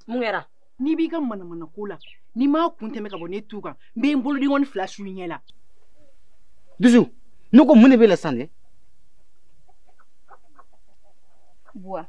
mun kɛra n'i b'i ka manamana ko la n'i m'a kun tɛmɛ ka bɔ ne tu kan n bɛ n boloden kɔni fila su i ɲɛ la dusu ne ko mun de b'e la sisan dɛ buwa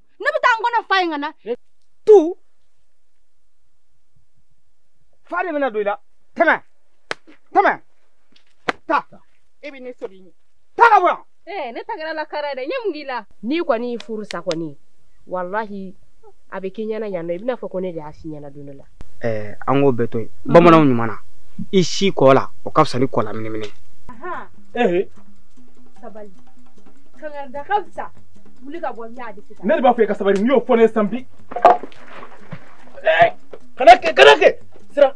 ne bɛ taa n kɔnɔ fa yen ka na tu fa de bɛna don i la tɛmɛ tɛmɛ taa e bɛ ne sɔrɔ i ɲɛ taa ka bɔ yan ee eh, ne ta kɛra la kara dɛ n ye mun k'i la n'i kɔni y'i furu sa kɔni walahi a bɛ k'i ɲɛna yan nɔ i bɛn'a fɔ ko ne de y'a si ɲɛna don dɔ la ɛɛ an k'o bɛɛ to yen bamananw ko ɲuman na i si kɔ la o ka fisa ni kɔ la minimini Ehe, sabali kangarida ka fisa wuli ka bɔ n y'a di sisan ne de b'a fɔ i ka sabali n'i y'o fɔ ne ye san bi Eh, kana kɛ kana kɛ sira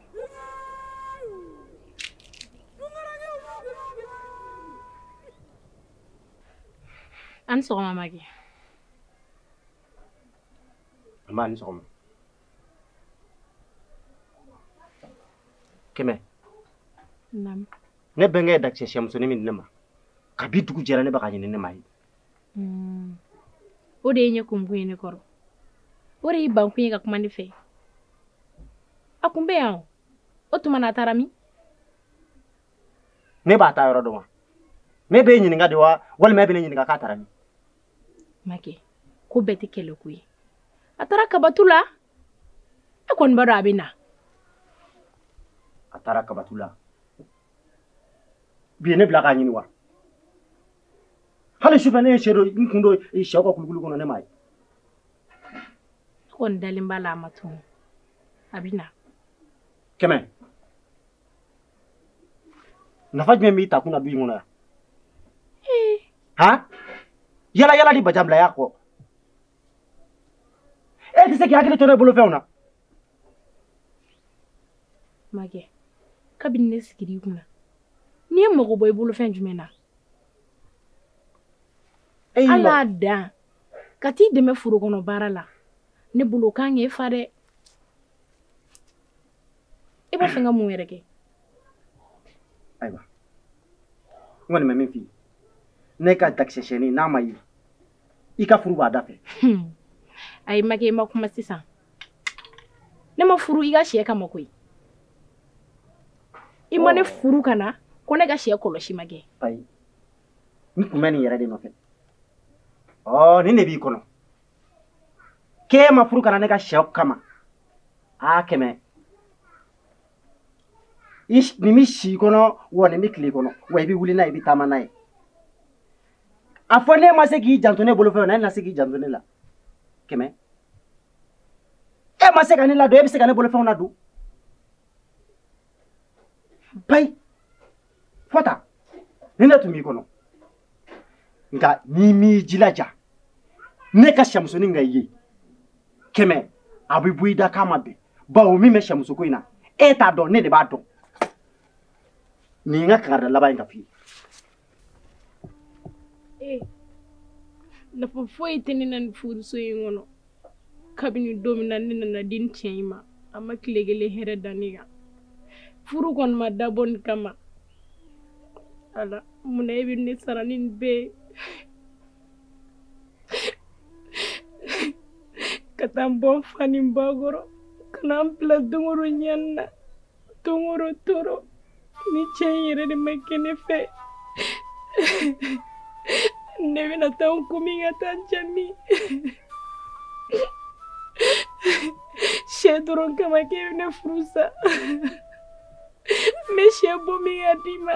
a ni sɔgɔma makɛ nba a ni sɔgɔma kɛmɛ naamu ne bɛnkɛ ye dakisɛ siyɛmusonin min di ne ma kabi dugu jɛra ne bɛ k'a ɲini ne m'a ye Mm. o de y'i ɲɛ kumukun ye ne kɔrɔ o de y'i bankun ye ka kuma ne fɛ a kun bɛ yan o tuma na a taara min ne b'a taa yɔrɔ dɔn wa ne b'e ɲininka de wa walima e bɛ ne ɲininka k'a taara min makɛ ko bɛɛ tɛ kɛlɛ ko ye a taara kabatu la e kɔni b'a dɔn a bɛ na a taara kabatu la bi ye ne bila k'a ɲini wa hali sufɛ ne ye sɛ dɔ n kun don sɛw ka kulukulu kɔnɔ ne m'a ye n kɔni dalen b'a la a ma tunu a bɛ na kɛmɛ nafa jumɛn b'i takun na du in kɔnɔ yan han yaala yaala ni bajanbilaya kɔ e tɛ se k'i hakili to ne bolofɛnw na Makɛ kabini ne sigir'i kunna ne ye mago bɔ i bolofɛn jumɛn na ala dan ka t'i dɛmɛ foro kɔnɔ baara la ne bolo kan e fa dɛ e b'a fɛ n ka mun wɛrɛ kɛ ayiwa n kɔni bɛ min f'i ye ne ka dakisɛsɛni n'a ma ye i ka furu b'a da fɛ ayi makɛ i ma kuma sisan ne ma furu i ka sɛ kama koyi i ma ne furu ka na ko ne ka sɛ kɔlɔsi ma kɛ ayi n tun bɛ nin yɛrɛ de nɔfɛ ɔ nin de b'i kɔnɔ k'e ma furu ka na ne ka sɛ kama a kɛmɛ nin bɛ si i kɔnɔ wa nin bɛ tile i kɔnɔ wa i bɛ wuli n'a ye i bɛ taama n'a ye a fɔ ne ma se k'i janto ne bolofɛn na e na se k'i janto ne la kɛmɛ e ma se ka ne ladon e bɛ se ka ne bolofɛnw ladon payi fɔta nin de tun b'i kɔnɔ nka n'i m'i jilaja ne ka sɛmusonin ka ye kɛmɛ a bɛ bɔ i da k'a ma bɛn bawo min bɛ sɛmusoko in na e t'a dɔn ne de b'a dɔn nin ye n ka kankari laban in ka f'i ye ee nafa foyi tɛ ne na nin furuso in kɔnɔ kabini don min na ne nana di nin cɛ in ma a ma tile kelen hɛrɛ da ne kan furu kɔni ma dabɔ nin kama ala mun na e bɛ ne sara ni nin bɛɛ ye ka taa n bɔ n fa ni n ba kɔrɔ ka na n bila don o don ɲani na don o don tɔɔrɔ ni cɛ in yɛrɛ de ma kɛ ne fɛ ne bɛna taa n kun min ka taa n ja min sɛ dɔrɔn kama k'e bɛ ne furu sa n bɛ sɛ bɔ min ka d'i ma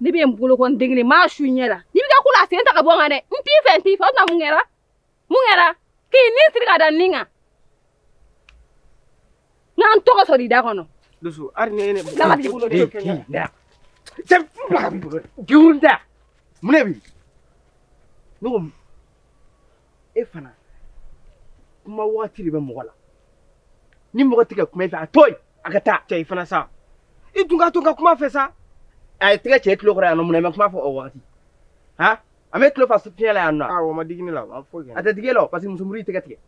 ne bɛ n bolokɔni den kelen maa su i ɲɛ la n'i bɛ ka kula sen ta ka bɔ n kan dɛ n t'i fɛ n t'i fɛ o tuma mun kɛra mun kɛra k'i ni siri ka da n ni kan n kana n tɔgɔ sɔrɔ i da kɔnɔ. dusu hali ni ye ne. n'a ma t'i bolo de. cɛ bila ka b'i bolo dɛ. jurun da mun de b'i ne ko e fana kuma waati de bɛ mɔgɔ la ni mɔgɔ tɛ ka kuma i fɛ a to yen a ka taa cɛ i fana sa i tun k'a to ka kuma fɛ sa a ye tɛgɛ ci i tulo kɔrɔ yan nɔ mun na i ma kuma fɔ o wagati han an bɛ tulo fa fiɲɛ la yan nɔ awɔ o ma digi ne la a foyi kɛ a tɛ digi e la o parce que muso muru y'i tɛgɛ tigɛ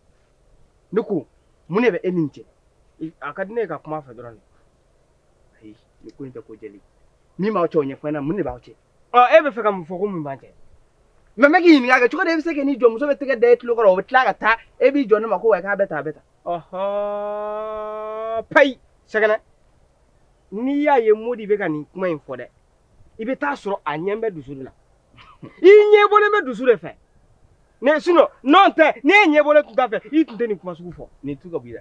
ne ko mun de bɛ e ni nin cɛ a ka di ne ye ka kuma a fɛ dɔrɔn de ayi nin ko in tɛ ko jɛlen min b'aw cɛ o ɲɛfɔ n ɲɛna mun de b'aw cɛ ɔ e bɛ fɛ ka mun fɔ ko mun b'an cɛ mais n bɛ k'i ɲininka kɛ cogo di e bɛ se ka n'i jɔ muso bɛ tɛgɛ da e tulo kɔrɔ o bɛ tila ka taa e b'i jɔ ne ma ko wa k'a bɛ tan a bɛ tan ɔhɔn payi sɛgɛnɛ n'i y'a ye modi bɛ ka nin kuma in fɔ dɛ i bɛ taa sɔrɔ a ɲɛ bɛ dusu de la i ɲɛ bɔlen bɛ dusu de fɛ ne sinon n'o tɛ n'e ɲɛ bɔlen tun t'a fɛ i tun tɛ nin kuma sugu fɔ nin tu ka b'i la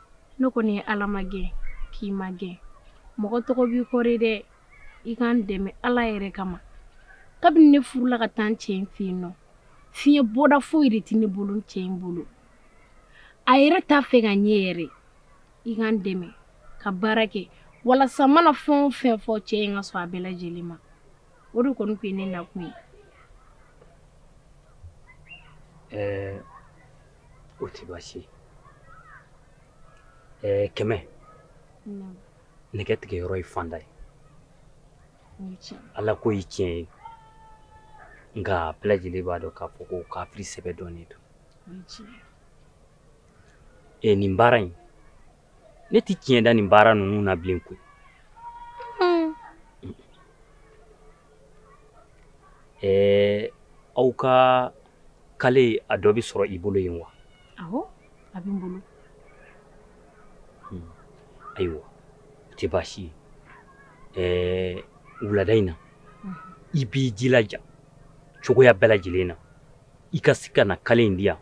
ne kɔni ye ala magɛn k'i magɛn mɔgɔ tɔgɔ b'i kɔrɔ dɛ i ka n dɛmɛ ala yɛrɛ kama kabini ne furula ka taa n cɛ in fɛ yen nɔ fiɲɛ bɔda foyi de tɛ ne bolo n cɛ in bolo a yɛrɛ t'a fɛ ka n ye yɛrɛ i ka n dɛmɛ ka baara kɛ walasa n mana fɛn o fɛn fɔ cɛ in ka sɔn a bɛɛ lajɛlen ma o de kɔni tun ye ne nakun ye ɛɛ o tɛ baasi ye ɛɛ kɛmɛ nɛgɛ tigɛ yɔrɔ ye fanda ye ala ko ye tiɲɛ ye nka bɛɛ lajɛlen b'a dɔn k'a fɔ ko kafiri sɛbɛ dɔnnen don e nin baara in ne tɛ tiɲɛ da nin baara ninnu na bilen koyi hmm. ɛɛ aw ka kale a dɔ bɛ sɔrɔ i bolo yen wa awɔ a bɛ n bolo hmm. ayiwa o tɛ baasi ye ɛɛ wulada in na hmm. i b'i jilaja cogoya bɛɛ lajɛlen na i ka se ka na kale in di yan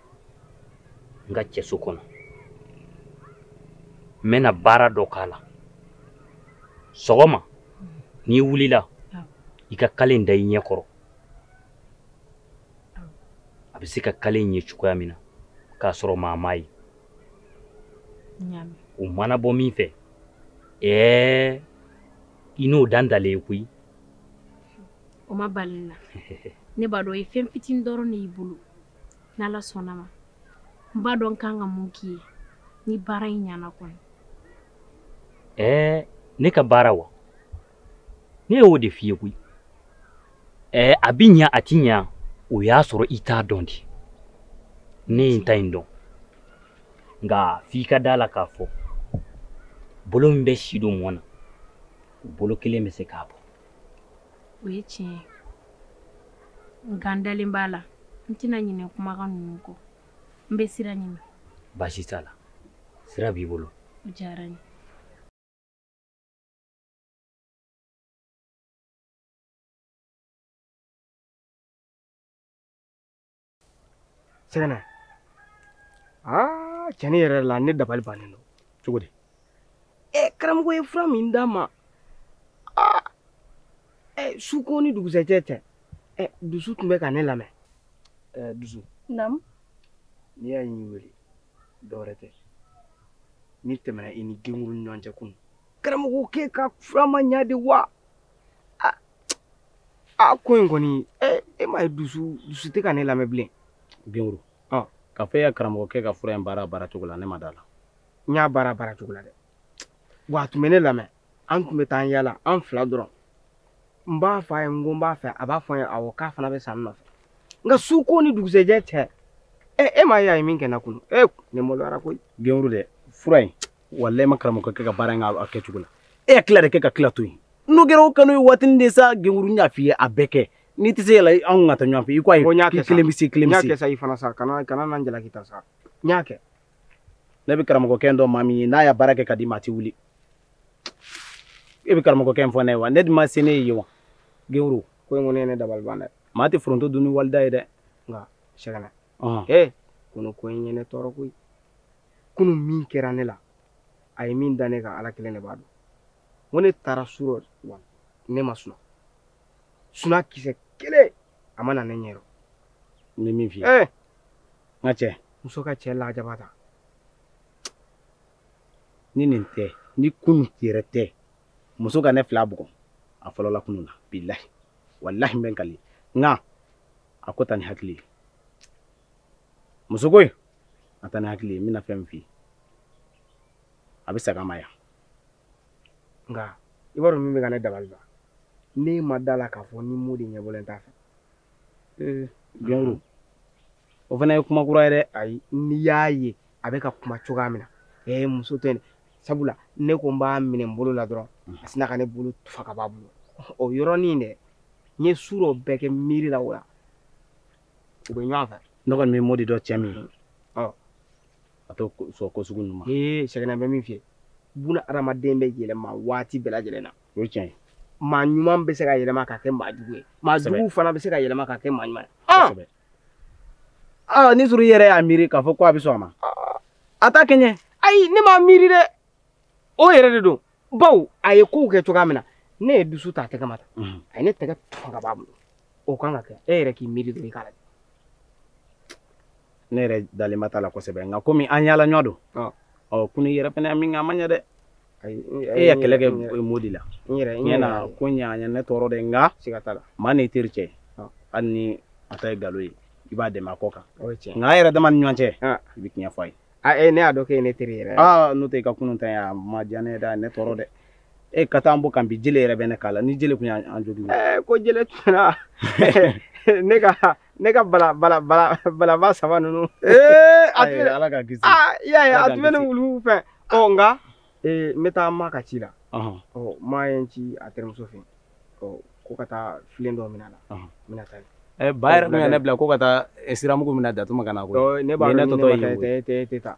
n ka cɛso kɔnɔ n bɛna baara dɔ k'a la sɔgɔma n'i wulila i ka kale in da i ɲɛ kɔrɔ a bɛ se ka kale in ye cogoya min na k'a sɔrɔ maa m'a ye o mana bɔ min fɛ ɛɛ i n'o dan dalen ye koyi o ma bali n na ne b'a dɔn o ye fɛn fitinin dɔrɔn de y'i bolo n'ala sɔnna ma n b'a dɔn n kan ka mun k'i ye ni baara in ɲana kɔni ɛɛ ne ka baara wa ne y'o de f'i ye koyi ɛɛ a bi ɲa a ti ɲa o y'a sɔrɔ i t'a dɔn de ne ye n ta in dɔn nka f'i ka da a la k'a fɔ bolo min bɛ si don mɔgɔ na o bolo kelen bɛ se k'a bɔ o ye tiɲɛ ye nka n dalen b'a la n tɛna ɲinɛ kumakan ninnu kɔ n bɛ sira ɲini baasi t'a la sira b'i bolo o diyara n ye sɛgɛnɛ aa tiɲɛ yɛrɛ la ne dabali bannen don cogo di ɛ karamɔgɔ ye fura min d'a ma aa ɛ su ko ni dugusɛjɛ tɛ ɛ dusu tun bɛ ka ne lamɛn ɛ dusu naamu n'i y'a ye n y'i wele dɔwɛrɛ tɛ min tɛmɛna i ni genkuru ni ɲɔgɔn cɛ kunun karamɔgɔ k'e ka fura ma ɲa de wa a ko in kɔni e m'a ye dusu dusu tɛ ka ne lamɛn bilen genkuru k'a fɔ e ka karamɔgɔkɛ ka fura in baara baara cogo la ne ma da la n y'a baara baara cogo la dɛ wa a tun bɛ ne lamɛn an tun bɛ taa an yaala an fila dɔrɔn n b'a fɔ a ye n ko n b'a fɛ a b'a fɔ n ye awɔ k'a fana bɛ sa n nɔfɛ nka su ko ni dugusɛjɛ cɛ ɛ e m'a ye a ye min kɛ n na kunu e ne maloyara koyi genkuru dɛ fura in walayi ma karamɔgɔkɛ ka baara in k'a kɛcogo la e y'a tila de kɛ ka tila to yen n'o kɛra o kanu ye waatinin de sa genkuru n y'a f'i ye a bɛɛ kɛ n'i tɛ se a la anw ka taa ɲɔgɔn fɛ i ko ayi k'i kelen bɛ se kelen bɛ se n y'a kɛ sa i fana sa kana kana na n jalaki ta sa n y'a kɛ ne bɛ karamɔgɔkɛ dɔn maa min ye n'a y'a baara kɛ k'a d'i ma a tɛ wuli e bɛ karamɔgɔkɛ in fɔ ne ye wa ne dun ma se ne ye wa genkuru ko in kɔni ye ne dabali ban dɛ maa tɛ foronto dun ni wali da ye dɛ nka sɛgɛnɛ ee kunu ko in ye ne tɔɔrɔ koyi kunu min kɛra ne la a ye min da ne kan ala kelen de b'a dɔn n ko ne taara su rɔ wa ne ma suna suna kisɛ kelen a ma na ne ɲɛ rɔ n bɛ min f'i ye ee n ka cɛ muso ka cɛ lajaba ta ni nin tɛ ni kunu yɛrɛ tɛ muso ka ne fila bugɔ a fɔlɔla kunu na bilahi walahi n bɛ n kali nka a ko ta ni hakili ye muso ko in a ta ni hakili ye n bɛna fɛn min f'i ye a bɛ saga ma yan nka i b'a dɔn min bɛ ka ne dabali ban ne ma da la k'a fɔ ni modi ɲɛbɔlen t'a fɛ ee genkuru o fana ye kuma kura ye dɛ ayi n'i y'a ye a bɛ ka kuma cogoya min na ee muso tɛ sabula ne ko n b'a minɛ n bolo la dɔrɔn a sina ka ne bolo tufa ka b'a bolo o yɔrɔnin dɛ n ye su rɔ bɛɛ kɛ miiri la o la u bɛ ɲɔgɔn fɛ ne kɔni bɛ modi dɔn cɛ min ye a tɛ sɔn ko sugu ninnu ma ee sɛgɛnɛ n bɛ min f'i ye buna adamaden bɛ yɛlɛma waati bɛɛ lajɛlen na o ye tiɲɛ ye maa ɲuman bɛ se ka yɛlɛma ka kɛ maa jugu ye maa jugu fana bɛ se ka yɛlɛma ka kɛ maa ɲuman ye aa ni sɔrɔ i yɛrɛ y'a miiri k'a fɔ ko a bɛ sɔn a ma a t'a kɛɲɛ ayi ne m'a miiri dɛ o yɛrɛ de don bawo a ye kow kɛ cogoya min na ne ye dusu ta a tɛgɛ ma ta mhm. a ye ne tɛgɛ tufa ka b'a bolo o kan ka kɛ e yɛrɛ k'i miiri dɔrɔn i k'a lajɛ ne yɛrɛ dalenba t'a la kosɛbɛ nka komi an yaala ɲɔ don ɔ kunu yɛrɛ fana min kɛ a ma ɲɛ dɛ e ya kɛlɛ kɛ modi la ɲɛna ko ɲaɲa ne tɔɔrɔ dɛ nka maa n'i teri cɛ hali ni a ta ye galon ye i b'a dɛmɛ a kɔkan nka a yɛrɛ dama ni ɲɔgɔn cɛ i bɛ tiɲɛ fɔ a ye a e ne y'a dɔn k'e ye ne teri yɛrɛ aa n'o tɛ i ka kunun ta yan a ma diya ne ye dɛ ne tɔɔrɔ dɛ e ka taa an bɔ kan bi jele yɛrɛ bɛ ne k'a la ni jele tun y'an jogin ko jele tun na ne ka ne ka bala bala bala balaba saba ninnu ee a tun ala ka kisi aa i y'a ye a tun bɛ ne wulu fɛ ɔ nka ee n bɛ taa ma ka ci la ɔ ma ye n ci a terimuso fɛ ɔ ko ka taa filen dɔ minɛ a la n bɛna taa yen ba yɛrɛ tun ye ne bila ko ka taa siramugu minɛ datuma ka na ko ne b'a dɔn ne tɔtɔ ye tɛ tɛ tɛ taa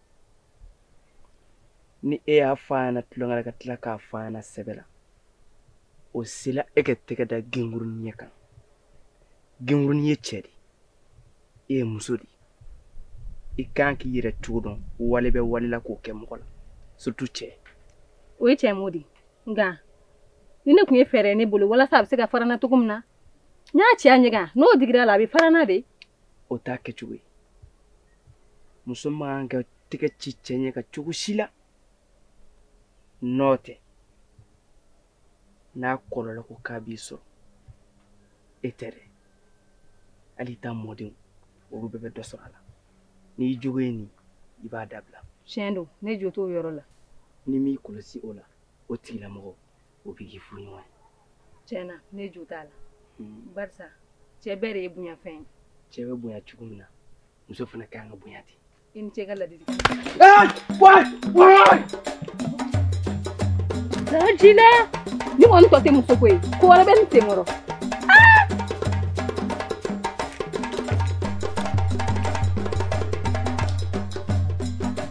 ni e y'a fɔ a ɲɛna tulonkɛ la ka tila k'a fɔ a ɲɛna sɛbɛ la o sela e ka tɛgɛ da gengurunin ɲɛ kan gengurunin ye cɛ de e ye muso de i kan k'i yɛrɛ cogo dɔn wale bɛ wale la k'o kɛ mɔgɔ la surtout cɛ o ye cɛ mo de nka nin de tun ye fɛɛrɛ ne bolo walasa a bɛ se ka fara n na cogo min na n y'a ci a ɲɛ kan n'o digira a la a bɛ fara n na dɛ o t'a kɛcogo ye muso man ka tɛgɛ ci cɛ ɲɛ kan cogo si la n'o tɛ n'a kɔlɔlɔ ko k'a b'i sɔrɔ e tɛ dɛ hali i ta mɔdenw olu bɛɛ bɛ dɔ sɔrɔ a la n'i jogo ye nin i b'a dabila tiɲɛ don ne jo t'o yɔrɔ la n'i m'i kɔlɔsi o la o tigilamɔgɔ o bɛ k'i furuɲɔgɔn ye. tiɲɛ na ne jo t'a la. Hmm. barisa cɛ bɛɛ de ye bonya fɛn ye. cɛ bɛ bonya cogo min na muso fana ka kan ka bonya ten. i ni ce ka ladili. Jina ni kɔni tɔ tɛ muso ko ye ko wɛrɛ bɛ nin sen kɔrɔ.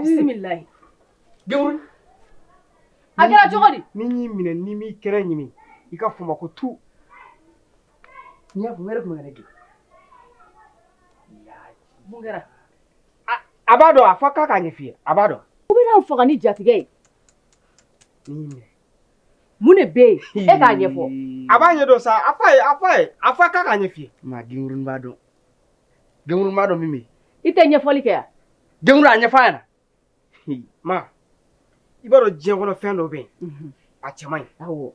bisimilayi gewuru a kɛra cogo di ni n y'i minɛ ni n m'i kɛnɛ ɲimi i k'a fɔ n ma ko tu n'i y'a fɔ wɛrɛ tun bɛ ne gɛn mun kɛra a b'a dɔn a fɔ k'a k'a ɲɛf'i ye a b'a dɔn u bɛna n faga ni jatigɛ ye ni n y'i minɛ mun de bɛ yen e k'a ɲɛfɔ a b'a ɲɛdɔn sa a f'a ye a f'a ye a fɔ k'a k'a ɲɛf'i ye ma gengurunin b'a dɔn gengurunin b'a dɔn min bɛ yen i tɛ ɲɛfɔli kɛ yan gengurunin a ɲɛfɔ a ɲɛna ma i b'a dɔn diɲɛ kɔnɔ fɛn dɔ bɛ yen a cɛ man ɲi awɔ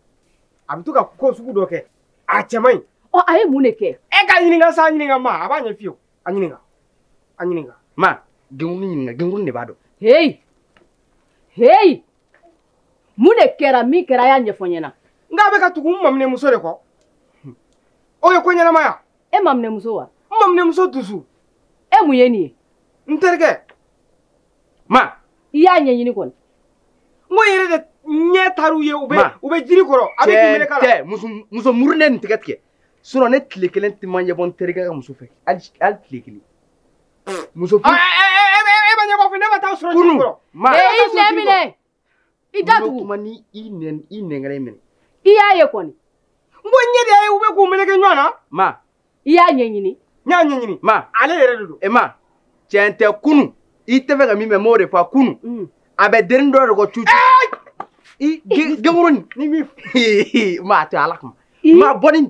a bɛ to ka ko sugu dɔ kɛ a cɛ man ɲi ɔ a ye mun de kɛ e k'a ɲininka sa a ɲininka ma a b'a ɲɛf'i ye a ɲininka a ɲininka ma gengurunin de b'a dɔn heyi heyi mun de kɛra min kɛra a y'a ɲɛfɔ n ɲɛna n k'a bɛ ka tugu n maminɛmuso de kɔ o ye ko ɲɛnamaya e maminɛmuso wa n maminɛmuso dusu e mun ye nin ye n terikɛ ma i y'a ɲɛɲini kɔni n ko n yɛrɛ de ɲɛ taar'u ye u bɛ u bɛ jiri kɔrɔ a bɛ k'i melek'a la tɛ muso muso murune nin tigɛ tigɛ sinɔn ne tile kelen tɛ n ma ɲɛbɔ n terikɛ ka muso fɛ hali hali tile kelen muso furu Ɔ, ɛ, ɛ, ɛ, ɛ, ɛ, e ma ɲɛbɔ fɛ ne ma taa sɔrɔ Kunu, jiri kɔrɔ. ma. Ee, i nɛn minɛ. i da tugu kuma ni i nɛn i nɛngɛrɛ minɛ i y'a ye kɔni n ko ɲɛ de y'a ye u bɛ k'u meleke ɲɔgɔn na ma i y'a ɲɛɲini n y'a ɲɛɲini ma ale yɛrɛ de don e ma tiɲɛ tɛ kunu i t'a fɛ ka min mɛ m'o de fɔ kunu Mm. a bɛ denin dɔ de kɔ cucu i ge- genkuru nin ni min ma a to ala kama I- ma bɔ ni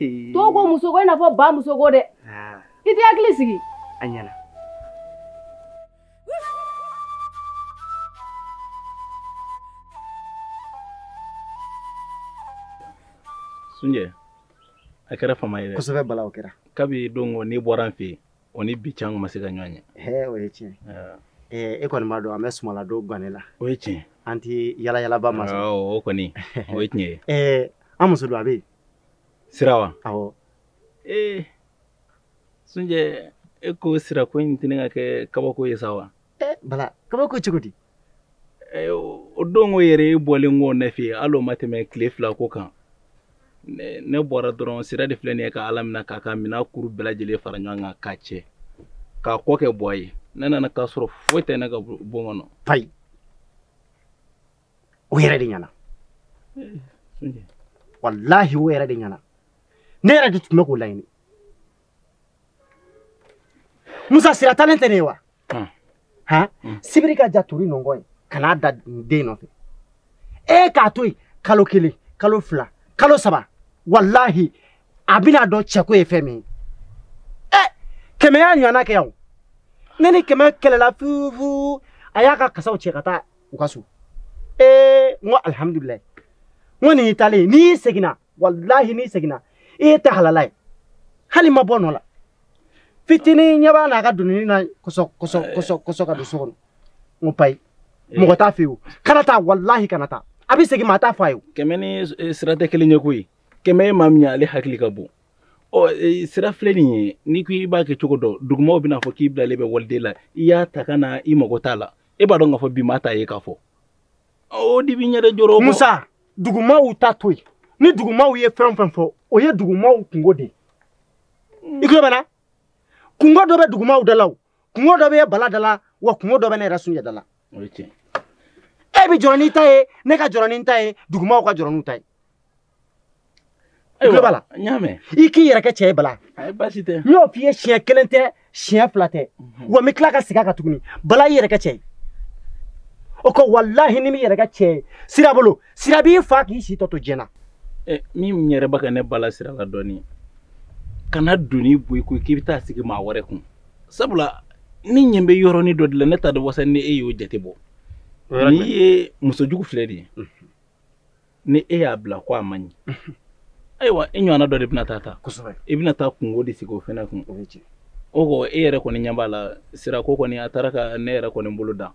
Dɔw ko muso ko i n'a fɔ bamuso ko dɛ. Ah. I t'i hakili sigi. A ɲɛna. Sunjɛ, a kɛra fama ye dɛ. Kosɛbɛ Bala o kɛra. Kabi don n'i bɔra n fɛ yen. o ni bi cɛ an ma se ka ɲɔgɔn ye o ye tiɲɛ e kɔni b'a dɔn an bɛ suman ladon gannen la o ye tiɲɛ an tɛ yala yalaba masɔrɔ o kɔni o ye tiɲɛ ye an muso don a bɛ yen sira wa awɔ ee sunjɛ e ko sira ko in tɛna ka kɛ kabako ye sa wa bala kabako cogo di o don ko yɛrɛ e bɔlen kɔ ne fɛ yen hali o ma tɛmɛ tile fila ko kan ne bɔra dɔrɔn sira de filɛ nin ye ka ala minɛ k'a ka minɛn kuru bɛɛ lajɛlen fara ɲɔgɔn kan k'a cɛ k'a kɔ kɛ bɔ a ye ne nana k'a sɔrɔ foyi tɛ ne ka bon kɔnɔ payi o yɛrɛ de ɲɛna walahi o yɛrɛ de ɲɛna ne yɛrɛ de tun bɛ k'o laɲini musa sira taalen tɛ nin ye wa hmm. han hmm. sibiri ka jan tori nɔngɔn ye kana da den nɔfɛ e k'a to yen kalo kelen kalo fila kalo saba walahi a bɛn'a dɔn cɛko ye fɛn min ye ɛ kɛmɛ y'a ɲɔgɔnna kɛ yan o ne ni kɛmɛ kɛlɛla fufu a y'a ka kasaw cɛ ka taa u ka so ee n ko alihamudulilayi n ko nin y'i taalen n'i seginna walahi n'i seginna i ye tɛ halala ye hali n ma bɔ n nɔ la fitiri n ɲɛ b'a n'a ka doninin na kɔsɔ kɔsɔ kɔsɔ kɔsɔ ka don so kɔnɔ n ko payi eh. mɔgɔ t'a f'a ye o kana taa walahi kana taa a bɛ segin maa t'a fɔ a ye o. kɛmɛ ni eh, sira tɛ kelen ye koyi kɛmɛ ye maa min ye ale hakili ka bon ɔ eh, sira filɛ nin ye n'i ko i b'a kɛ cogo dɔ dugumaw bɛn'a fɔ k'i bilalen bɛ waliden la i y'a ta ka na i mago t'a la e b'a dɔn k'a fɔ bi maa t'a ye k'a fɔ. o de bɛ ne de jɔrɔ musa dugumaw ta to yen ni dugumaw ye fɛn o fɛn fɔ o ye dugumaw kunko de ye i tulo bɛ n na kunko dɔ bɛ dugumaw da la o kunko dɔ bɛ bala da la wa kunko dɔ bɛ ne yɛrɛ sunjɛ da la e bɛ jɔrɔ n'i ta ye ne ka jɔrɔ ni n ta ye dugumaw ka jɔrɔ n'u ta ye tulo b'a la n y'a mɛn i k'i yɛrɛ kɛ cɛ ye bala baasi tɛ n y'o f'i ye siɲɛ kelen tɛ siɲɛ fila tɛ mhm. wa n bɛ tila ka segin a kan tuguni bala i yɛrɛ kɛ cɛ ye o ko walahi n'i m'i yɛrɛ kɛ cɛ ye sira bolo sira b'i fa k'i si tɔ to diɲɛ na eh, min yɛrɛ bɛ ka ne bala sira la dɔɔni kana doni bɔ i ko k'i bɛ taa sigi maa wɛrɛ kun sabula ne ɲɛ bɛ yɔrɔnin dɔ de la ne t'a dɔn wasa ni e y'o jate bɔ n'i ye muso jugu filɛ de ye mhm. ni e y'a bila ko a man ɲi ayiwa i ɲɔgɔnna dɔ de bɛna taa ta i bɛna taa kunko de sigi o fɛnɛ kun o kɔ e yɛrɛ kɔni ɲɛ b'a la sira ko kɔni a taara ka ne yɛrɛ kɔni bolo dan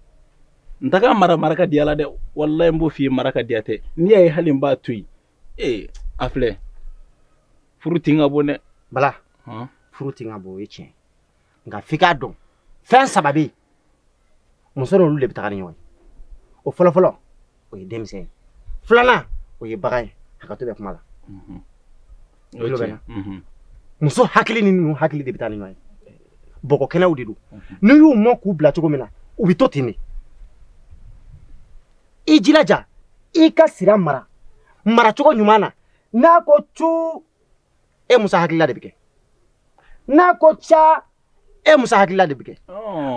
n tɛ k'a mara mara ka diya la dɛ walayi n b'o f'i ye mara ka diya tɛ n'i y'a ye hali n b'a to yen ee a filɛ furu tin ka bon dɛ bala furu tin ka bon o ye tiɲɛ nka f'i k'a dɔn fɛn saba bɛ yen muso n'olu de bɛ taga ni ɲɔgɔn ye o fɔlɔfɔlɔ o ye denmisɛn ye filanan o ye bagan ye hakɛto bɛ kuma la mhm. mhm. muso hakili ni ninnu hakili de bɛ taa ni ɲɔgɔn ye bɔgɔ kɛnɛw de don mhm. n'i y'u mɔ k'u bila cogo min na u bɛ to ten de i jilaja i ka sira mara maracogo ɲuman na n'a ko cu e musa hakilila de bɛ kɛ n'a ko ca e musa hakilila de bɛ kɛ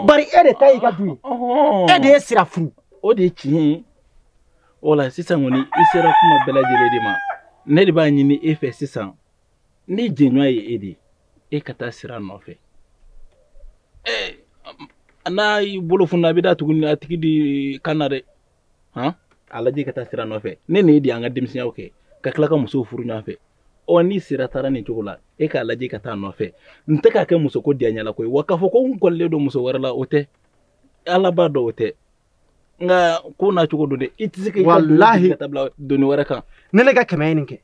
bari e de ta y'i ka du ye e de ye sira furu o de ye tiɲɛ ye o la sisan kɔni i sera kuma bɛɛ lajɛlen de ma ne de b'a ɲini e fɛ sisan ne jɛɲɔgɔn ye e de ye e ka taa sira nɔfɛ n'a y'i bolo funna a bɛ da tuguni a tigi de kan na dɛ han a lajɛ ka taa sira nɔfɛ ne n'e de y'an ka denmisɛnyaw kɛ ka tila ka musow furu ɲɔgɔn fɛ ɔ ni sira taara nin cogo la e k'a lajɛ ka taa nɔfɛ n tɛ k'a kɛ muso ko diya ɲɛla koyi wa k'a fɔ ko n kɔlilen don muso wɛrɛ la o tɛ ala b'a dɔn o tɛ nka ko n'a cogo don dɛ i tɛ se ka i ka doni Walahi. sigi ka taa bila doni wɛrɛ kan ni ne ka kɛmɛ ye nin kɛ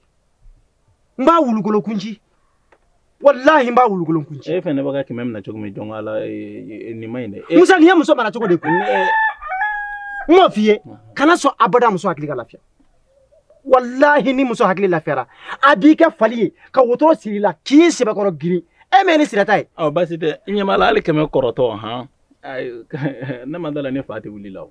n b'a wulukolon kun ci walahi n b'a wulukolon kun ci e fɛnɛ bɛ ka kɛmɛ minɛ cogo min jɔn ala nin man ɲi dɛ musa nin ye muso mara cogo de kun n m'o f'i ye kana sɔn abada muso hakili ka lafiya walahi ni muso hakili lafiyara a b'i kɛ fali ye ka wotoro siri i la k'i sɛbɛkɔrɔ girin e m'e ni sira ta ye ɔ basi tɛ i ɲɛ b'a la hali kɛmɛ kɔrɔtɔ han ne ma d'a la ne fa tɛ wuli la o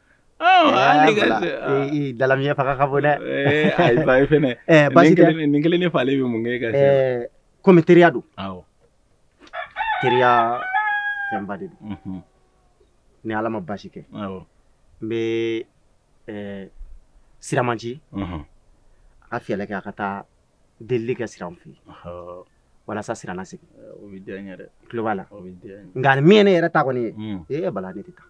dalamiya fanga ka bon dɛ ayi ba ye fɛnɛ basi tɛ nin kelen ne falen bɛ mun kɛ ka se komi teriya don awɔ teriya fɛnba de don ni ala ma basi kɛ awɔ n bɛ siraman ci a ka fiyɛlɛ kɛ a ka taa delili kɛ sira fɛ walasa sira na segin o bɛ diya n ye dɛ tulo b'a la nka min ye ne yɛrɛ ta kɔni ye ee bala ne tɛ taa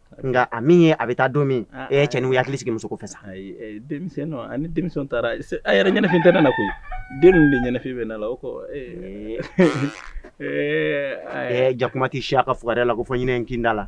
nka a min ye a bɛ taa don min ah, e ye ah, cɛnin ah. hakili sigi muso ko fɛ sa eh, denmisɛnw a ni denmisɛnw taara a yɛrɛ ɲɛnafin tɛ ne na koyi den ninnu de ɲɛnafin bɛ ne la o kɔ eh. Eh, jakuma tɛ se a ka fugariya la ko fɔ ɲinɛ in kinda la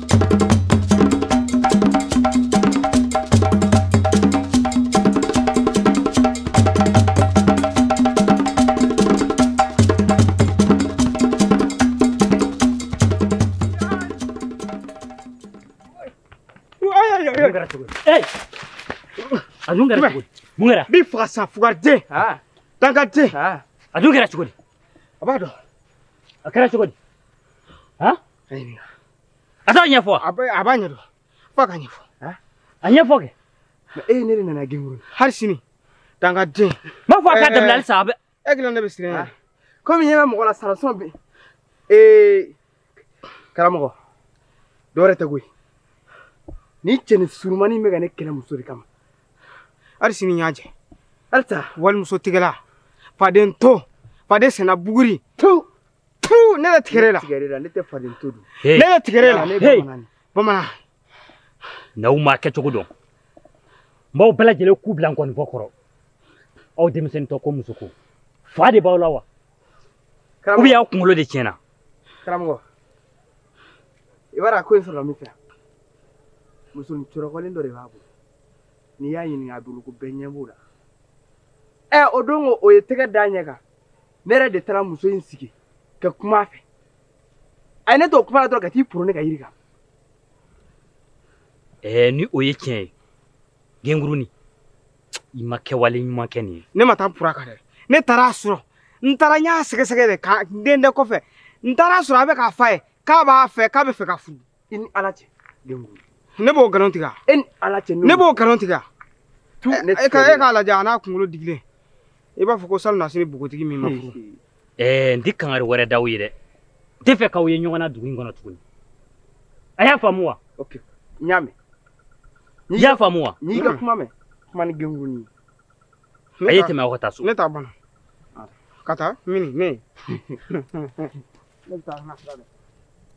a dun kɛra cogo di mun kɛra n b'i faga sa fugariden dankaden a dun kɛra cogo di a b'a dɔn a kɛra cogo di a t'a ɲɛfɔ a b'a ɲɛdɔn f'a k'a ɲɛfɔ a ɲɛfɔ kɛ e ye ne de nana genguru hali sini dankaden m'a fɔ a k'a dabila halisa a bɛ e kelen ne bɛ siran yan komi ɲɛ bɛ mɔgɔ la sarasɔn bɛ ee karamɔgɔ dɔwɛrɛ tɛ koyi ni cɛnin surumani bɛ ka ne kɛlɛ muso de kama hali sini y'a jɛ halisa walimuso tigɛla faden to faden sɛnɛ buguri to Puu ne bɛ tigɛrɛ la. Tigɛrɛ la ne tɛ faden to dun. Ne bɛ tigɛrɛ la. Ne bɛ bamanan. Bamanan. N'aw m'a kɛcogo dɔn. N b'aw bɛɛ lajɛlen ku bila n kɔnifɔ kɔrɔ. Aw denmisɛnnin tɔ ko muso ko. Fa de b'aw la wa? Ou bien aw kunkolo de tiɲɛna. Karamɔgɔ. I b'a dɔn a ko in sɔrɔla min fɛ. Musonin cɔrɔkɔlen dɔ de b'a bolo. N'i y'a ɲininka a bolo ko bɛɛ ɲɛ b'o la. Ɛ o don o ye tɛgɛ da ɲɛ kan. ne yɛrɛ de taara muso in sigi ka kuma a fɛ a ye ne to kuma la dɔrɔn ka t'i poro ne ka yiri kan ɛɛ ni o ye tiɲɛ ye gengurunin i ma kɛwale ɲuman kɛ nin ye ne ma taa n por'a kan dɛ ne taara a sɔrɔ n taara n y'a sɛgɛsɛgɛ de k'a dɛndɛ kɔfɛ n taara a sɔrɔ a bɛ k'a f'a ye k'a b'a fɛ k'a bɛ fɛ k'a furu i ni ala cɛ ne b'o nkalon tigɛ e ni ala cɛ ne b'o nkalon tigɛ e ka e k'a lajɛ a n'a kunkolo digilen i b'a fɔ ko salonnasini bogotigi min ma furu ɛɛ n tɛ kangari wɛrɛ da aw ye dɛ n tɛ fɛ k'aw ye ɲɔgɔn na dugu in kɔnɔ tuguni a y'a faamu wa n y'a mɛn i y'a faamu wa n y'i ka kuma mɛn kuma ni gengurunin ye a ye tɛmɛ aw ka taa so ne t'a bana ka taa mini ne ne bɛ taa n ka sira dɛ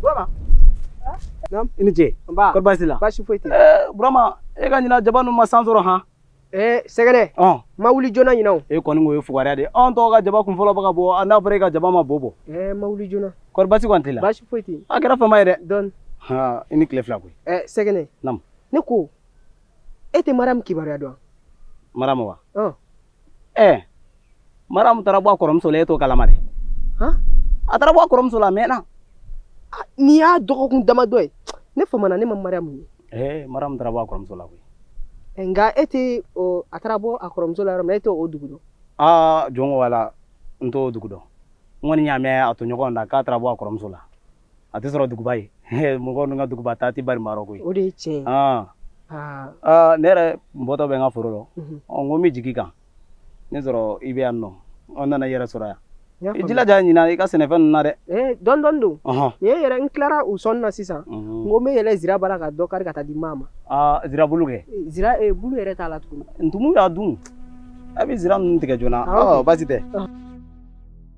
Burama. Naam. I ni ce. Nba. Kɔri baasi la? Baasi foyi tɛ. Ɛɛ Burama e ka ɲinan jaba ninnu ma san sɔrɔ han. Ee sɛgɛnɛ. Ɔn. Ma wuli joona ɲinan o. E kɔni ko ye fugariya de ye. Anw tɔw ka jaba kun fɔlɔ bɛ ka bɔ a n'a fɔra e ka jaba ma bo bɔ. Ɛɛ ma wuli joona. Kɔri baasi kɔni t'i la? Baasi foyi tɛ. A kɛra fama ye dɛ. Dɔɔni. Haa i ni tile fila koyi. Ɛɛ sɛgɛnɛ. Naam. Ne ko e tɛ Mariam kibaruya dɔn. Mariam wa? Ɔn. ɛɛ maramu taara bɔ a kɔrɔmuso la e t'o kalama de a taara bɔ a kɔrɔmuso la a mɛnna nin y'a dɔgɔkun damadɔ ye ne famana ne ma mariyamu ye ɛɛ maramu taara bɔ a kɔrɔmuso la koyi nka e tɛ a taara bɔ a kɔrɔmuso la yɔrɔ min e t'o dugu dɔn aa jɔn ko Ala n t'o dugu dɔn n kɔni y'a mɛn a tɔɲɔgɔn da k'a taara bɔ a kɔrɔmuso la a tɛ sɔrɔ duguba ye mɔgɔ ninnu ka duguba taa tɛ bari maa rɔ koyi o de ye tiɲɛ ye ah. Ah. Ah, ne yɛrɛ n bɔtɔ bɛ n ka foro rɔ mhm. ɔ n ko n bɛ jigi i kan n'a sɔrɔ i bɛ yan nɔ n nana i yɛrɛ sɔrɔ yan i jilaja ɲinan i ka sɛnɛfɛn ninnu na dɛ eh, dɔɔni dɔɔni don nin ye yɛrɛ n tilara u sɔnni na sisan mhm. n ko n bɛ yɛlɛ zira bara ka dɔ kari ka taa di maa ma zira bulu kɛ eh, zira eh, bulu yɛrɛ t'a la tuguni ntumu y'a dun a bɛ zira ninnu tigɛ joona baasi tɛ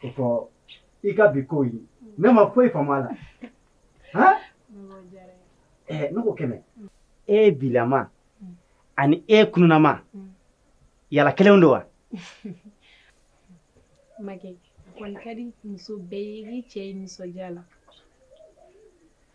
ko fɔ i ka bi ko in ne ma foyi faamu a la han ɛɛ ne ko kɛmɛ e bilama ani e kununama yala kelenw don wa Mage, a kɔni ka di muso bɛɛ ye i k'i cɛ ye nisɔndiya la.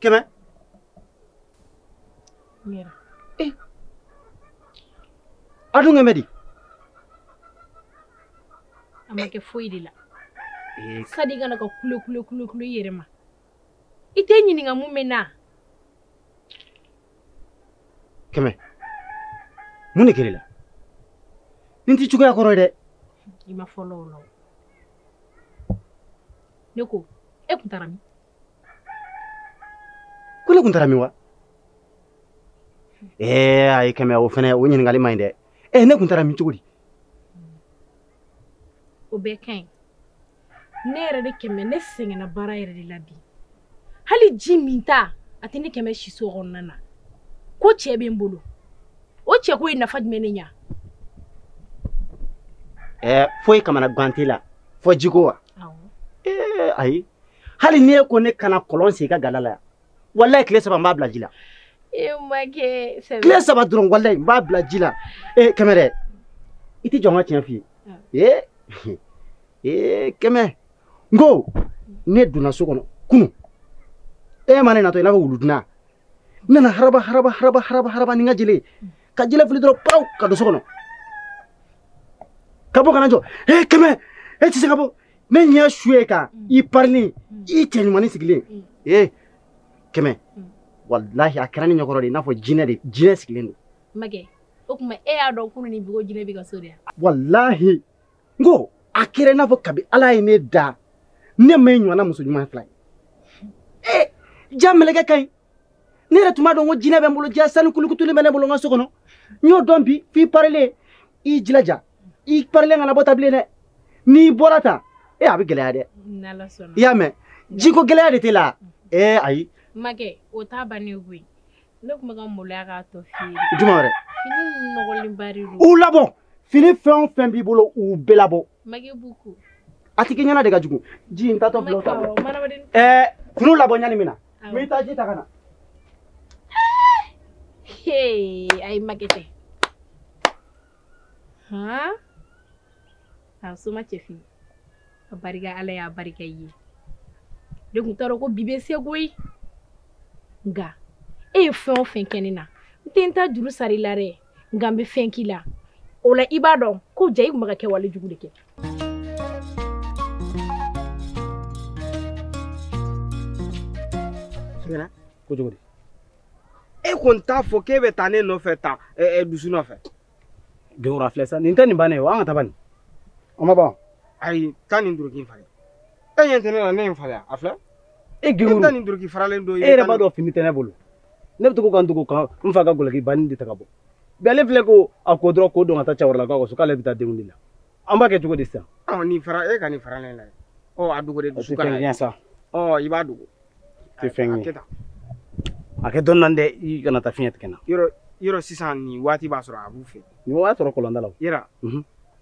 kɛmɛ eh. a dun kɛmɛ di a ma kɛ foyi de la eh. sadi kana to ka kule kule kule kule i yɛrɛ ma i tɛ n ɲininka mun bɛ n na kɛmɛ mun de kɛra i la nin t'i cogoya kɔrɔ ye dɛ i ma fɔlɔ o la ne ko e kun taara min ko ne kun taara min wa ee ayi kɛmɛ o fɛnɛ o ɲininkali man ɲi dɛ ee ne kun taara min cogo di o bɛɛ ka ɲi ne yɛrɛ de kɛmɛ ne sɛgɛnna baara yɛrɛ de la bi hali ji minta a tɛ ne kɛmɛ siso kɔnɔna na ko cɛ bɛ n bolo o cɛko ye nafa jumɛn ne ɲa ɛɛ foyi kamanagan t'i la fo jiko wa ee ayi hali n'e ko ne ka na kɔlɔn sen i ka gala la yan walayi tile saba n b'a bila ji la e tile saba dɔrɔn walayi n b'a bila ji la ee kɛmɛ dɛ i tɛ jɔ n ka tiɲɛ f'i ye ee ee kɛmɛ n ko ne donna so kɔnɔ kunu e ma ne natɔ i n'a fɔ wuluduna n nana haraba haraba haraba haraba haraba ni n ka jele ye ka jele fili dɔrɔn paw ka don so kɔnɔ ka bɔ ka na jɔ e kɛmɛ e tɛ se ka bɔ ne ɲɛ su e kan mm. i parilen mm. i cɛ ɲumannin sigilen mm. ee kɛmɛ walahi a kɛra ne ɲɛkɔrɔ de i n'a fɔ jinɛ sigilen don. makɛ o tuma e y'a dɔn kunu ni bi ko jinɛ b'e ka so de wa. walahi. n ko a kɛra i n'a fɔ kabi ala ye ne da ne ma e ɲɔgɔnna muso ɲuman fila ye ee ja mɛlɛkɛ ka ɲi ne yɛrɛ tun b'a dɔn ko jinɛ bɛ n bolo ja sanu kulukutulen bɛ ne bolo n ka so kɔnɔ n y'o dɔn bi f'i parilen i jilaja i parilen kana bɔ tan bilen dɛ n'i bɔra tan a bɛ gɛlɛya dɛ i y'a mɛn jiko gɛlɛya de t'e la ee ayi makɛ o t'a bannen koyi ne tun bɛ ka maloya k'a tɔ f'i ye jumɛn wɛrɛ fini nɔgɔlenba de don u labɔ fini fɛn o fɛn b'i bolo u bɛɛ labɔ a tigi ɲɛna de ka jugu ji in tatɔ bila o ta ɛɛ finiw labɔ ɲani min na n bɛ taa ji ta ka na ayi makɛ tɛ hɔn a soma cɛfin a barika ala y'a barika i ye ne tun t'a dɔn ko bi bɛ se koyi nka e ye fɛn o fɛn kɛ ne na n tɛ n ta juru sara i la dɛ nka n bɛ fɛn k'i la o la i b'a dɔn ko ja i tun bɛ ka kɛwale jugu de kɛ ko cogo di e kɔni t'a fɔ k'e bɛ taa ne nɔfɛ tan dusu nɔfɛ dewura filɛ sa nin tɛ nin bannen ye wa an ka taa bani o ma ban ayi taa nin duloki in falen e ɲɛ tɛ ne la ne ye n falen a filɛ e gɛrɛ taa nin duloki faralen don e yɛrɛ b'a dɔn fini tɛ ne bolo ne bɛ to ka n dogo ka n fa ka gɔlɔkiba nin de ta ka bɔ bi ale filɛ ko a ko dɔrɔn k'o don ka taa cɛkɔrɔlakaw ka so k'ale bɛ taa denkundi la an b'a kɛ cogo di sisan nin fara e ka nin faralen lajɛ ɔ a dogo de dusu ka na sa ɔ i b'a dogo tɛ fɛn ye a kɛ dɔɔnin dɛ i kana taa fiɲɛ tigɛ n na yɔrɔ yɔrɔ sisan nin waati b'a sɔrɔ a b'u fɛ nin waati sɔrɔ kɔlɔnda la yɛrɛ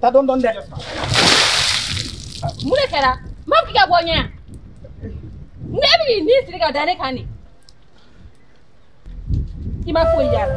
ta dɔn dɔn dɛ mun de kɛra n ma k'i ka bɔ ɲɛ yan ne bɛ k'i ni siri ka da ne kan de i ma foyi y'a la.